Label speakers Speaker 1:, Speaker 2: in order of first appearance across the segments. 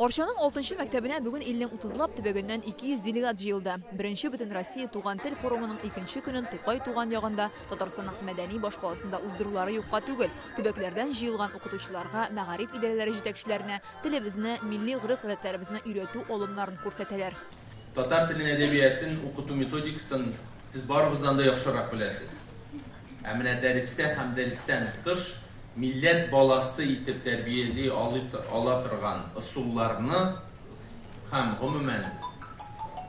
Speaker 1: Арчаның алтынчы мәктәбенә бүген илнең утызлап төбәгеннән 200 делегат җыелды. Беренче бөтен Россия туган тел форумының икенче көнен Тукай туган ягында Татарстанның мәдәни башкаласында уздырулары юкка түгел. Төбәкләрдән җыелган укытучыларга, мәгариф идарәләре җитәкчеләренә телебезне, милли гореф-гадәтләребезне өйрәтү алымнарын күрсәтәләр. Татар телен,
Speaker 2: әдәбиятын укыту методикасын сез барыбыздан да яхшырак беләсез. Ә менә дәрестә һәм дәрестән тыш милләт баласы итеп тәрбияли ала торган ысулларны һәм, гомумән,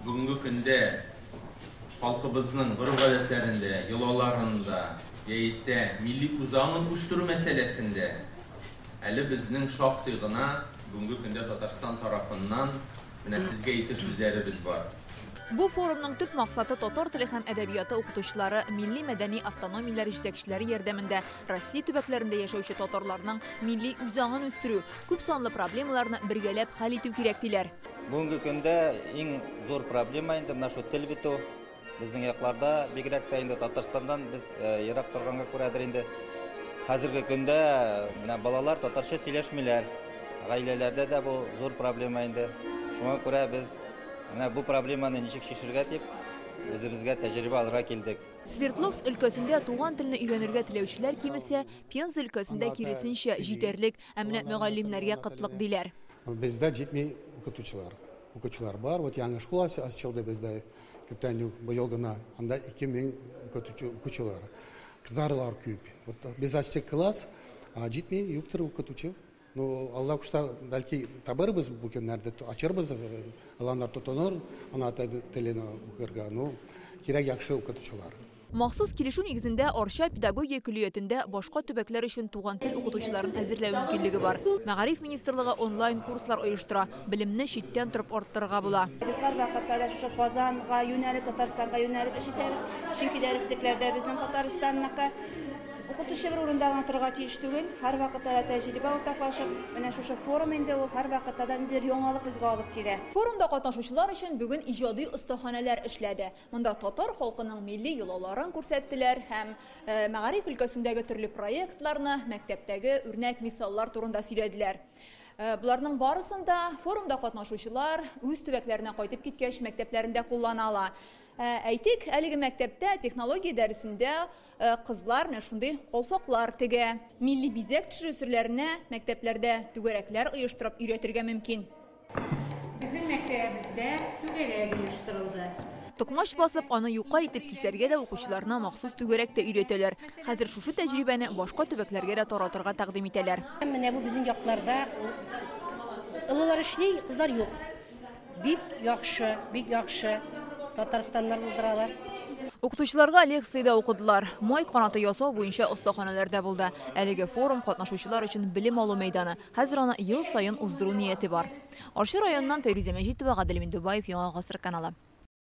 Speaker 2: бүгенге көндә халкыбызның гореф-гадәтләрендә, йолаларында яисә милли үзаңын үстерү мәсьәләсендә әле безнең шактый гына бүгенге көндә Татарстан тарафыннан Менә сезгә ике сүзләребез бар. Бу форумның
Speaker 1: төп максаты татар теле һәм әдәбияты укытучылары, милли-мәдәни автономияләр җитәкчеләре ярдәмендә Россия төбәкләрендә яшәүче татарларның милли үзаңын үстерү, күп санлы проблемаларны бергәләп хәл итү кирәк, диләр. Бүгенге көндә
Speaker 3: иң зур проблема инде менә шул тел бетү. Безнең якларда, бигрәк тә инде Татарстандан без ерак торганга күрәдер инде, хәзерге көндә менә балалар татарча сөйләшмиләр. Гаиләләрдә дә бу зур проблема инде. Шуңа күрә без менә бу проблеманы ничек чишергә дип, үзебезгә тәҗрибә алырга килдек. Свердловск өлкәсендә
Speaker 1: туган телне өйрәнергә теләүчеләр кимесә, Пенза өлкәсендә, киресенчә, җитәрлек, ә менә мөгаллимнәргә кытлык, диләр. Бездә җитми
Speaker 4: укытучылар. Укытучылар бар, вот яңа школа ачылды бездә. Күптән үк быел гына анда 2000 укытучы укучылар. Кызларлар күп. Вот без ачтык класс, а җитми, юктыр укытучы. Ну, Алла кушса, бәлки табырбыз бу көннәрдә, ачырбыз, аланнар тотыныр, ана телен укырга. Ну, кирәк яхшы укытучылар. Махсус килешү
Speaker 1: нигезендә Арча педагогия көллиятендә башка төбәкләр өчен туган тел укытучыларын әзерләү мөмкинлеге бар. Мәгариф министрлыгы онлайн курслар оештыра, белемне читтән торып арттырырга була. Без һәрвакытта да
Speaker 5: шушы Казанга юнәлеп, Татарстанга юнәлеп эш итәбез, чөнки дәреслекләр дә безнең Татарстанныкы. Укытучы бер урында гына торырга тиеш түгел, һәрвакытта да тәҗрибә уртаклашып, менә шушы форум инде ул һәрвакытта да ниндидер яңалык безгә алып килә. Форумда катнашучылар
Speaker 1: өчен бүген иҗади остаханәләр эшләде. Монда татар халкының милли йолаларын күрсәттеләр һәм мәгариф өлкәсендәге төрле проектларны, мәктәптәге үрнәк мисаллар турында сөйләделәр. Боларның барысын да форумда катнашучылар үз төбәкләренә кайтып киткәч мәктәпләрендә куллана ала. Әйтик, әлеге мәктәптә технология дәресендә кызлар менә шундый колфаклар тегә. Милли бизәк төшерү серләренә мәктәпләрдә түгәрәкләр оештырып өйрәтергә мөмкин. Безнең
Speaker 6: мәктәбебездә түгәрәк оештырылды. Токмач басып,
Speaker 1: аны юка итеп кисәргә дә укучыларына махсус түгәрәк тә өйрәтәләр. Хәзер шушы тәҗрибәне башка төбәкләргә дә таратырга тәкъдим итәләр. Менә бу безнең якларда
Speaker 7: олылар эшли, кызлар юк. Бик яхшы, бик яхшы. Татарстаннар булдыралар. Укытучыларга
Speaker 1: лекция дә укыдылар. Май канаты ясау буенча остаханәләрдә булды. Әлеге форум, катнашучылар өчен белем алу мәйданы. Хәзер аны ел саен уздыру нияте бар. Арча районыннан Фәйрүзә Мәҗитова, Гадел Миндубаев, Яңа гасыр каналы.